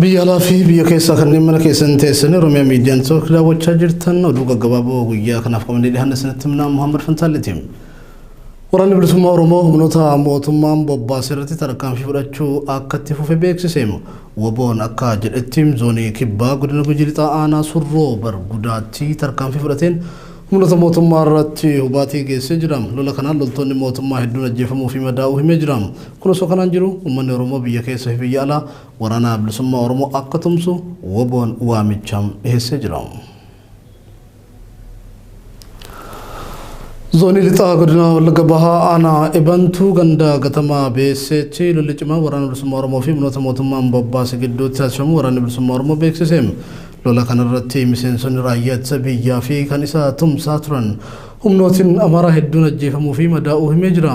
Biyya alaa fi biyya keessaa kanneen mana keessan teessanii Oromiyaa miidiyaan took daawwachaa jirtan oduu gaggabaaboo guyyaa kanaaf qabannee dhiyaanne isinitti himnaa Muhammad Fantaaliti. Waraanni bilisummaa Oromoo humnoota mootummaan bobbaase irratti tarkaanfii fudhachuu akka itti fufe beeksise. Woboon akka jedhetti zoonii kibbaa godina Gujii Lixaa aanaa surroo bargudaatti tarkaanfii fudhateen humnoota mootummaa irratti hubaatii geessee jira. Lola kanaan loltoonni mootummaa hedduun ajjeefamuu fi madaa'uu himee jira. Kun osoo kanaan jiru uummanni Oromoo biyya keessa fi biyya alaa waraana bilisummaa Oromoo akka tumsu WBOn waamicha dhiheessee jira. Zoonii Lixaa Godina Wallagga Bahaa Aanaa Ebantuu ganda Gatamaa Beesseetti lolli cimaa waraana bilisummaa Oromoo fi humnoota mootummaan bobbaase gidduutti taasifamu waraanni bilisummaa Oromoo beeksise. Lola kanarratti miseensonni raayyaa ittisa biyyaa fi kan isa tumsaa turan humnootiin Amaaraa hedduun ajjeefamuu fi madaa'uu himee jira.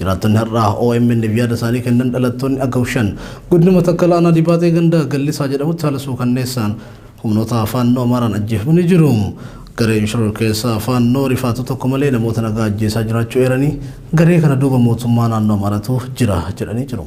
Jiraattonni har'a OMN'f yaada isaanii kennan dhalattoonni Agaw 5 Godina Matakkal Aanaa Dibaatee Ganda Gallisaa jedhamutti haala suukanneessaan humnoota Faannoo Amaaraan ajjeefamanii jiru. Gareen shororkeessaa Faannoo rifaatuu tokko malee namoota nagaa ajjeesaa jiraachuu eeranii garee kana duuba mootummaa naannoo Amaaratu jira jedhanii jiru.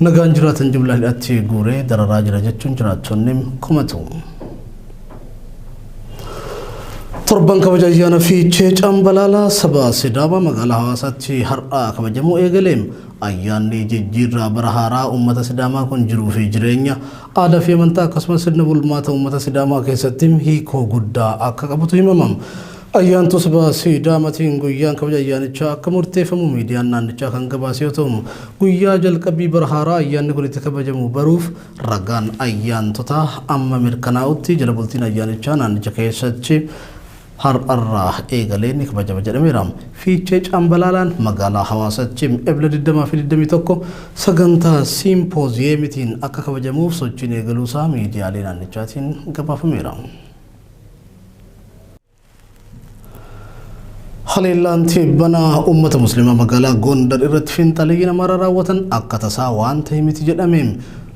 Nagaan jiraatan jumlaa hidhaatti guuree dararaa jira jechuun jiraattonni komatu. Torban kabaja ayyaana fiichee cambalaalaa saba Sidaamaa magaalaa hawaasaatti har'aa kabajamuu eegale. Ayyaanni jijjiirraa bara haaraa uummata Sidaamaa kun jiruu fi jireenya aadaa fi amantaa akkasumas sirna bulmaata uummata Sidaamaa keessatti hiikoo guddaa akka qabutu himama. Ayyaantus baha Sidaamatiin guyyaan kabaja ayyaanichaa akka murteeffamu miidiyaan naannichaa kan gabaase yoo ta'u, guyyaa jalqabbii bara haaraa ayyaanni kun itti kabajamu baruuf ragaan ayyaantotaa amma mirkanaa'utti jala bultiin ayyaanichaa naannicha keessatti har'arraa eegalee ni kabajama jedhameera. Fiichee Cambalaalaan magaalaa Hawaasatti Ebla 20 fi 21 sagantaa Siimpooziyeemitiin akka kabajamuuf sochiin eegaluusaa miidiyaalee naannichaatiin gabaafameera. Haleellaan tibbana uummata musliimaa magaalaa Gondar irratti finxalee namarra raawwatan akka tasaa waan ta'e miti jedhame.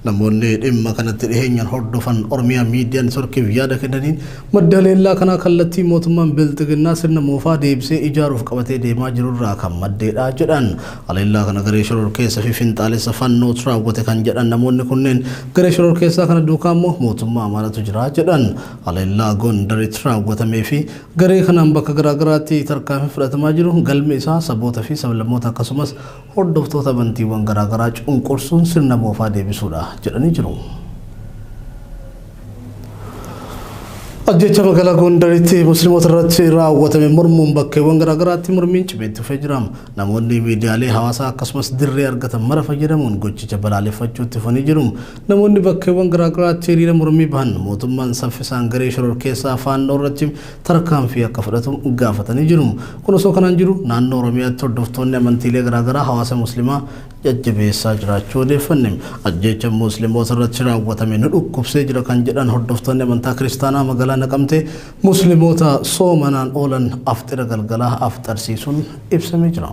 Namoonni dhimma kanatti dhiheenyaan hordofan Oromiyaa miidiyaa networkiif yaada kennaniin madda haleellaa kanaa kallattii mootummaan bilxiginnaa sirna moofaa deebisee ijaaruuf qabatee deemaa jirurraa kan maddeedha jedhan. Haleellaa kana garee shororkeessa fi finxaalessa Fannootu raawwate kan jedhan namoonni kunneen, garee shororkeessaa kana duukaa immoo mootummaa Amaaratu jira jedhan. Haleellaa Gondaritti raawwatamee fi garee kanaan bakka garaa garaatti tarkaanfiin fudhatamaa jiru galmi isaa saboota fi sablammoota akkasumas hordoftoota amantiiwwan garaa garaa cunqursuun sirna moofaa deebisuudha jedhanii jiru. Ajjeechaa magaalaa Gondaritti Muslimoota irratti raawwatame mormuun bakkeewwan garaa garaatti mormiin cimee itti fufee jira. Namoonni miidiyaalee hawaasaa akkasumas dirree argatan mara fayyadamuun gochicha balaaleffachuu itti fufanii jiru. Namoonni bakkeewwan garaagaraatti hiriira mormii bahan mootummaan saffisaan garee shororkeessaa Faannoo irratti tarkaanfii akka fudhatu gaafatanii jiru. Kun osoo kanaan jiru naannoo Oromiyaatti hordoftoonni amantiilee garaagaraa hawaasa Muslimaa jajjabeessaa jiraachuu odeeffanne. Ajjeechaan Muslimoota irratti raawwatame nu dhukkubsee jira kan jedhan hordoftoonni amantaa Kiristaanaa magaalaa Naqamtee, Muslimoota soomanaan oolan afxira galgalaa afxarsiisuun ibsamee jira.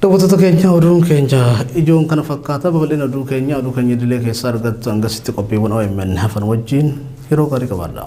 Daawwattoota keenya oduun keenya ijoon kana fakkaata babal'ina oduu keenya oduu keenya idilee keessaa argattu hangasitti qophiiwwan OMN hafan wajjin yeroo gaarii qabaadha.